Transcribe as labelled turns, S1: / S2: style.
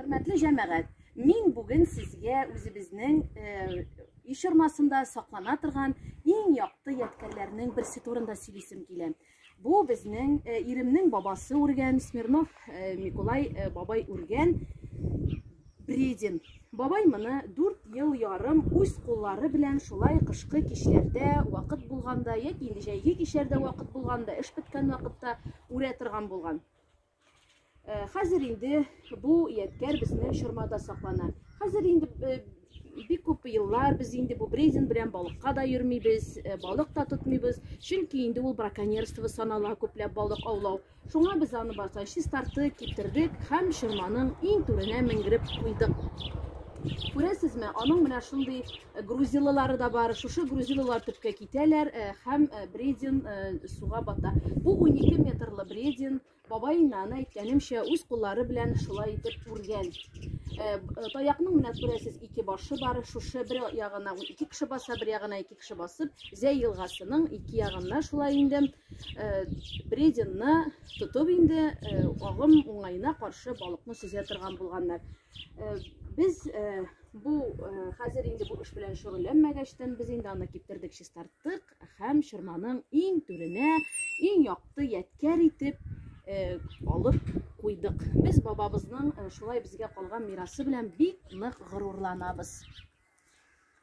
S1: Хөрмәтле җәмәгать, мин бүген сезгә үзебезнең э, иш ормасында саклана торган иң якты ядкәрләрнең берсе турында сөйлисем килә. Бу безнең э, иремнең бабасы үргән, Смирнов э, Миколай э, бабай үргән бредин. Бабай моны 4 ел ярым үз куллары белән шулай кышкы кичләрдә вакыт булганда яки инде җәйге кичләрдә вакыт булганда эш беткән вакытта үрә торган булган. Э, хәзер инде бу ядкәр безнең чормада саклана. Хәзер инде э, бик күп еллар без инде бу брезент белән балыкка да йөрмибез, э, балык та тотмыйбыз, чөнки инде ул браконьерство санала күпләп балык аулау. Шуңа без аны барса чистарты китердек һәм чорманың иң түренә менгереп куйдык. Күрәсезме, аның менә шундый Грузилылары да бар. Шушы грузилылар төпкә китәләр һәм бредин суга бата. Бу 12 метрлы бредин бабаеннан әйткәнемчә үз куллары белән шулай итеп үргән. Таякның менә күрәсез ике башы бар. Шушы бер ягына ике кеше баса, бер ягына ике кеше басып, Зәй елгасының ике ягына шулай инде брединны тотып инде агым уңаена каршы балыкны сөзә торган булганнар. Без бу хәзер инде бу эш белән шөгыльләнмәгәчтен, без инде аны киптердек, чистарттык һәм чорманың иң түренә, иң якты ядкәр итеп алып куйдык. Без бабабызның шулай безгә калган мирасы белән бик нык горурланабыз.